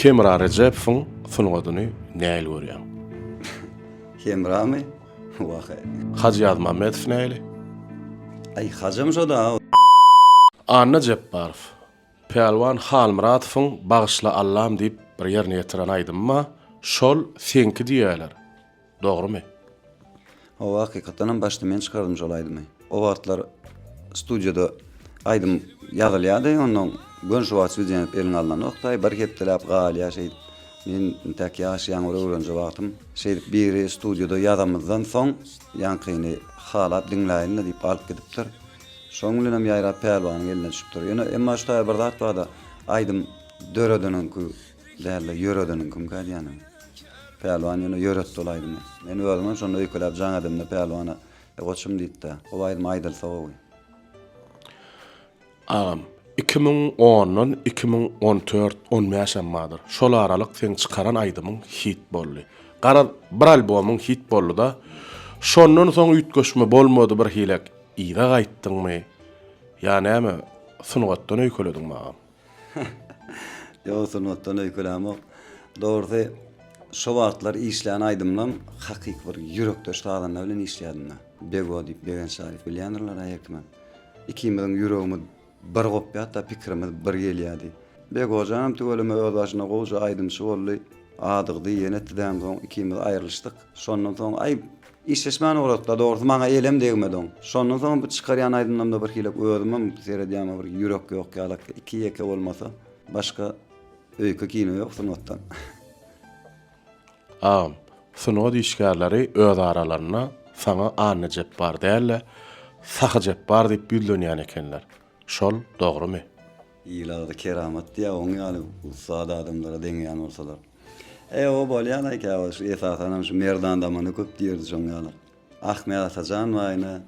Hemra Rejepowyň sungatyny nähili görýäň? Hemramy? Wah-eý! Hajy Ýazmämmedow nähili? Aý, Hajym şo-da! Anna Jepbarow, Pälwan Halmyratowyň Bagyşla Allam diýip bir ýerine ýetiren aýdymy bar, şol seňki diýýäler. Dogrymy? Hawa hakykatdanam başda men çykardim şol aýdymy. O wagtlar studiýada aýdym ýazylýardy ondan gön şu wagt studiýa eliň alnanokdaý bir hepdeläp galýar şeýdip. Men intäk ýaş ýaňy bir öwrenje wagtym şeýdip biri studiýada ýazamyzdan soň ýaňkyny halap diňläýin-le diýip alyp gidipdir. Şoň bilenem ýaýrap Pälwanyň eline düşüpdir. Ýöne emma şu taýy bir zat barda aýdym döredeniňki Dälde ýöredeniň kimki aýdýanyny. Pälwan ýöne ýöretdi ol aýdymy. Men özümem şonda öýkeläp jaň edemde Pälwana, E goçum diýipdä, gowy aýdym aýdylsa gowy. Agam, iki müň ondan iki müň on tört, on bäşem bardyr. Şol aralyk seň çykaran aýdymyň hit boldy. Garaz, bir albomyň hit boldy-da, şondan soň üýtgeşme bolmady birhilek yza gaýtdyňmy ýa näme sungatdan öýkelediňmi agam? Ýok sungatdan öýkelämok. Dogrusy şo wagtlar işlän aýdymlam hakyky bir ýürekdeş sazanda bilen işleýädimda. Bego diýip Begen Şalyýew bilýändirler aý herkimem. Ikimiziň ýüregimiz bir gopýarda pikirimiz bir gelýärdi. Begojanam tüweleme öz başyna gowja aýdymçy boldy. Adygdy ýene tizden soň ikimiz aýrylyşdyk. Şondan soň aý Işleşmän ugratla dogrysy maňa elem degmedi oň. Şondan soň bu çykarýan aýdymlarymda birhilek özümem seredýäme bir ýürek ýok ýalak iki ýeke bolmasa başga öýke kino ýok sungatdan. Agam, sungat işgärleri öz aralarynda saňa Anna Jepbar däl-de, Sahy Jepbar diýip ýüzlenýän ekenler. Şol dogrymy? Il agzy keramat diýýär, oň ýaly ussat adamlara deňeýän bolsalar. Eýe-ow bolýanaý käwagt şu esasanam şu Merdan damanda köp diýerdi şoň ýaly. Ahmet Atajan waýna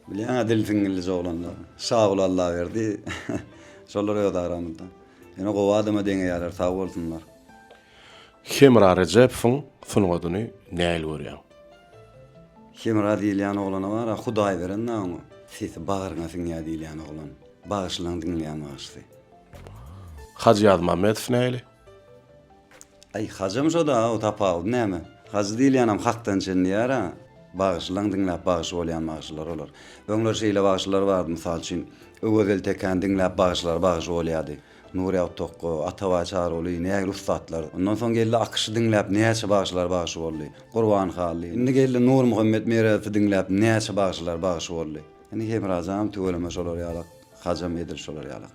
bilýäňä dil siňňillis oglanlar. Şaguly Allaberdi şolar öz aramyzda. Ýöne gowy adama deňeýärler sag bolsunlar. Hemra Rejepowyň sungatyny nähili görýäň? Hemra diýilýän oglana bar-a, Hudaý beren-dä oňa. Sesi bagryňa siňýär diýilýän oglan. Bagyşlaň diňleýän bagşysy. Hajy Ýazmämmedow nähili? Aý, Hajam şo-da, o tapawudy näme? Hajy diýilýänem hakdan çen diýýär-ä. Bagyşlaň diňläp bagşy bolýan bagşylar olar. Öňler şeýle bagşylar bardy, mysal üçin, Öwezeli Tekäni diňläp bagşylar bagşy bolýardy. Nury Agtokko, Atabaý Çaryguly, nägile ussatlar. Ondan soň geldi Akyşy diňläp näçe bagşylar bagşy boldy. Gurban Hally. Indi geldi Nurmuhammet Meredowy diňläp näçe bagşylar bagşy boldy. Indi Hemrajanam tüweleme şolar ýalak, Hajam edil şolar ýalak.